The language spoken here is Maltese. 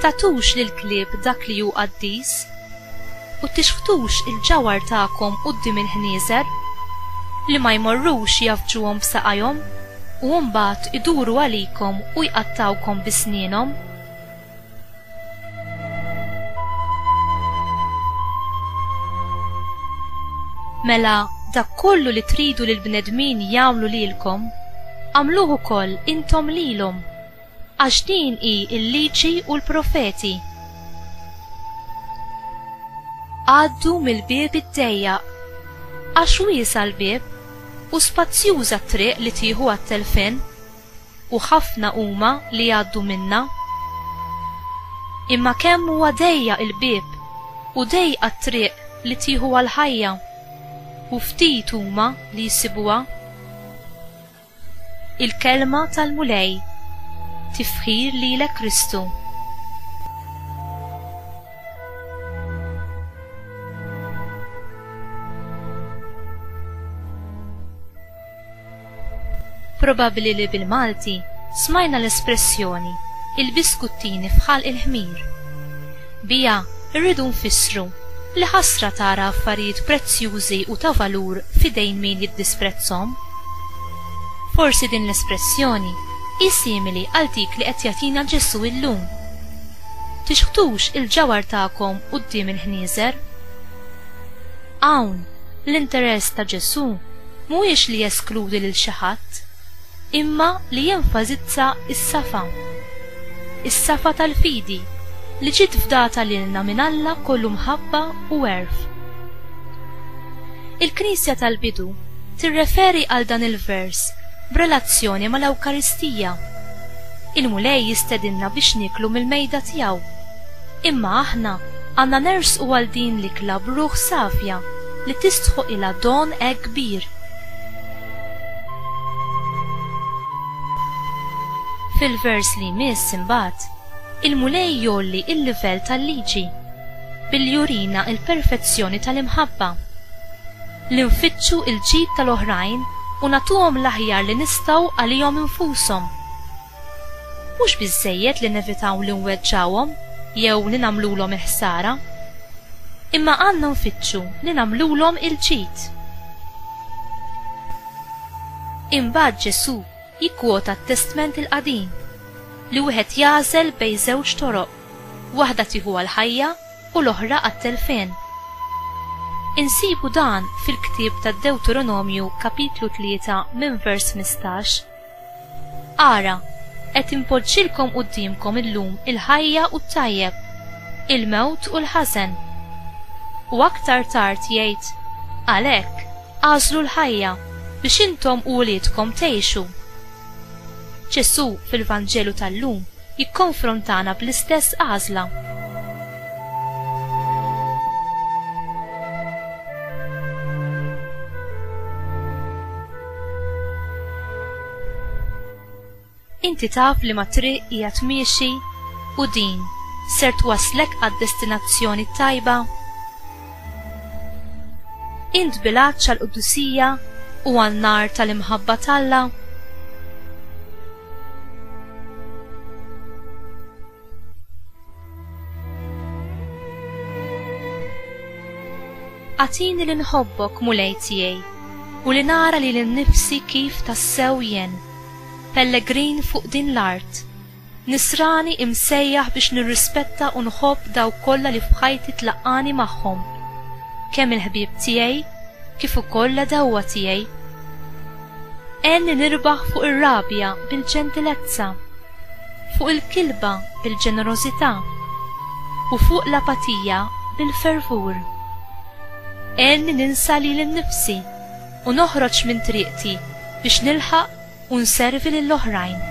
Tagħtux lill-klieb dak li hu qaddis, u tixħtux il-ġawhar tagħkom quddiem il-ħnieżer, li ma jmorrux jgħaffġuhom b'saqajhom u mbagħad iduru għalikom u jqattgħukom bi snienhom. Mela dak kollu li tridu li l-bnedmin jagħmlu lilkom, agħmluh ukoll intom lilhom, għax din hi l-Liġi u l-Profeti. Għaddu mill-bieb id-dejjaq, għax wiesgħa l-bieb u spazzjuża t-triq li tieħu għat-telfien, u ħafna huma li jgħaddu minnha. Imma kemm huwa dejjaq il-bieb u dejqa t-triq li tieħu għall-ħajja, u ftit huma li jsibuha. Il-Kelma tal-Mulej Tifħir lilek Kristu. Probabbli li bil-Malti smajna l-espressjoni il-biskuttini f'ħalq il-ħmir. Biha rridu nfissru li ħasra tara affarijiet prezzjużi u ta' valur f'idejn min jiddisprezzhom. Forsi din l-espressjoni hi simili għal dik li qed jagħtina Ġesù illum, Tixħtux il-ġawhar tagħkom quddiem il-ħnieżer. Hawn, l-interess ta' Ġesù mhuwiex li jeskludi lil xi ħadd, imma li jenfasizza s-safa. Is-safa tal-fidi li ġiet fdata lilna minn Alla kollu mħabba u għerf. Il-Knisja tal-bidu tirreferi għal dan il-vers b'relazzjoni mal-Ewkaristija. Il-Mulej jistedinna biex nieklu mill-mejda tiegħu. Imma aħna għandna nersqu għal din l-ikla b'ruħ safja li tistħoqilha don hekk kbir. Fil-vers li jmiss imbagħad, il-Mulej jgħolli l-livell tal-liġi billi jurina l-perfezzjoni tal-imħabba li nfittxu l-ġid tal-oħrajn u nagħtuhom l-aħjar li nistgħu għalihom infushom. Mhux biżżejjed li nevitaw li nweġġgħuhom jew li nagħmlulhom il-ħsara, imma għandna nfittxu li nagħmlulhom il-ġid. Imbagħad Ġesù jikkwota t-Testment il-Qadim li wieħed jagħżel bejn żewġ toroq, waħda tieħu għall-ħajja u l-oħra għat-telfien. Insibu dan fil-ktieb tad-Dewteronomju kapitlu tlieta minn vers ħmistax. Ara, qed inpoġġilkom quddiemkom illum il-ħajja u t-tajjeb, il-mewt u l-ħażen. U aktar tard jgħid, Għalhekk, agħżlu l-ħajja, biex intom u uliedkom tgħixu. Ġesù fil-Vanġelu tal-lum jikkonfrontana bl-istess għażla. Inti taf li ma triq hija tmiexi u din ser twasslek għad-destinazzjoni t-tajba? Int bil-għatx għall-qdusija u għan-nar tal-imħabba t'Alla? Għatini li nħobbok mulej tiegħi u li nara li l-nifsi kif tassew jen. Pellegrin fuq din l-art. Nisrani imsejjaħ biex nirrispetta u nħobb daw kollha li f'ħajti tlaqqani magħhom. Kemm il-ħbieb tiegħi kif ukoll l-għadewwa tiegħi. Għenni nirbaħ fuq ir-rabja bil-ġentilezza. fuq il-kilba bil-ġenerożità, u fuq l-apatija bil-fervur. Għenni ninsa lili nnifsi u noħroġ minn triqti biex nilħaq u nservi lill-oħrajn.